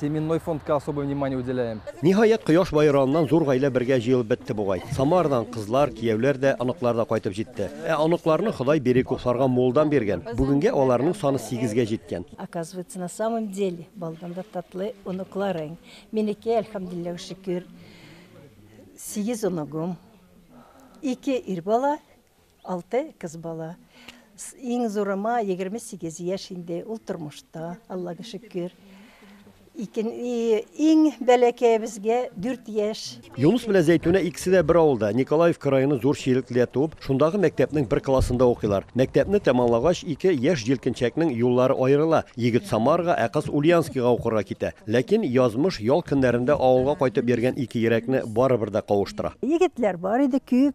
Семенной фондка особое внимание уделяем. Ниһаять, кояш баераннан зур гаилә бергә җыелып бетте бугай. Самарадан кызлар, кияүләр дә, оныклар да кайтып җитте. Ә оныкларны Ходай бирек үк Сарган муллдан биргән. Бүгенгә аларның саны сигезгә җиткән. Оказывается, на самом деле, балдан да татлы оныкларың. Минеке, әлхәмдулилләһ вә шөкер, сигез оныгым, ике ир бала, Алты кыз бала. Иң зурыма 28 яшь инде, ул тормышта, Аллага шөкер. Икен, иң бәләкәебезгә 4 яшь. Юныс белән Зәйтүнә икесе дә бер авылда, Николаевка районы Зур Чирекледә туып, шундагы мәктәпнең бер классында укыйлар. Мәктәпне тәмамлагач, ике яшь җилкенчәкнең юллары аерыла, егет Самарага, ә кыз Ульянскига укырга китә. Ләкин язмыш ял көннәрендә авылга кайтып йөргән ике йөрәкне барыбер дә кавыштыра. Егетләр бар иде, күп,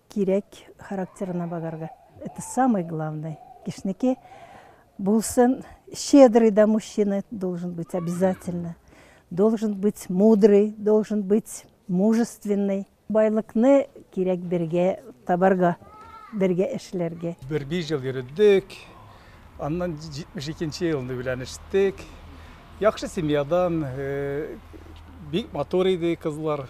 Кирәк характерына багарга. Это самое главное. Кешнеке булсын, щедрый да мужчина должен быть обязательно. Должен быть мудрый, должен быть мужественный. Байлыкны кирәк бергә табарга, бергә эшләргә. Бер биш ел йөрдек. Аннан 72 елны өйләнештек. Яхшы семьядан, бик матур иде кызлар.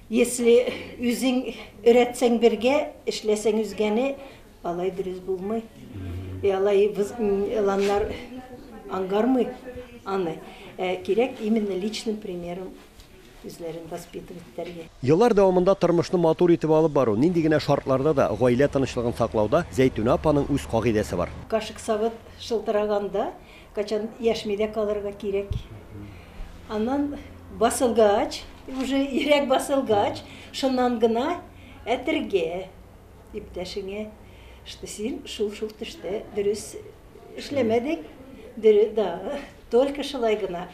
Если үзең өйрәтсәң бергә, эшләсәң үзгәне, алай дөрес булмый. И алай выз- м, еланнар аңгармый аны. Ә кирәк именно личным примером үзләрен воспитывать итәргә. Еллар дәвамында тормышны матур итеп алып бару, нинди генә шартларда да, гаилә тынычлыгын саклауда Зәйтүнә апаның үз кагыйдәсе бар. Кашык-савыт шылтыраганда, Качан яшьми дә калырга кирәк. Аннан басылгач, уже йөрәк басылгач, шуннан гына әтергә иптәшеңә, что син шул-шул төштә дөрес эшләмәдең, дөрес, да, только шулай гына.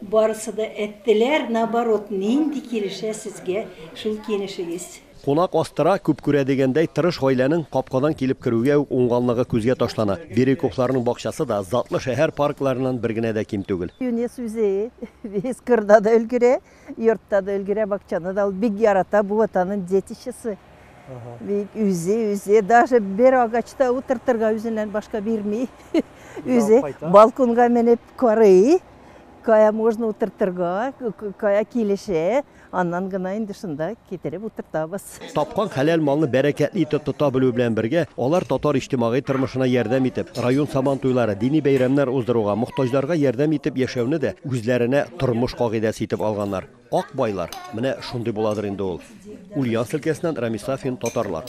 Барысы да әттеләр, наоборот, нинди килешә сезгә шул киенешегез? Кунак астыра, күп күрә дигәндәй, тырыш гаиләнең капкадан килеп керүгә үк уңганлыгы күзгә ташлана. Бирюковларның бакчасы да затлы шәһәр паркларыннан бер генә дә ким түгел. Юнис үзе без кырда да өлгерә, йортта да өлгерә, бакчаны да ул бик ярата, бу вот аның детищесы. Бик үзе, үзе даже бер агачта утыртырга үзеннән башка бирми. Үзе балконга менеп карый. кая можно утыртырга, кая килешә, аннан гына инде шунда китереп утыртабыз. Тапкан хәләл малны бәрәкәтле итеп тота белү белән бергә, алар татар иҗтимагый тормышына ярдәм итеп, район Сабан туйлары, дини бәйрәмнәр уздыруга, мохтаҗларга ярдәм итеп яшәүне дә үзләренә тормыш кагыйдәсе итеп алганнар. Ак байлар, менә шундый буладыр инде ул. Ульяновск өлкәсеннән Рамис Сафин, Татарлар.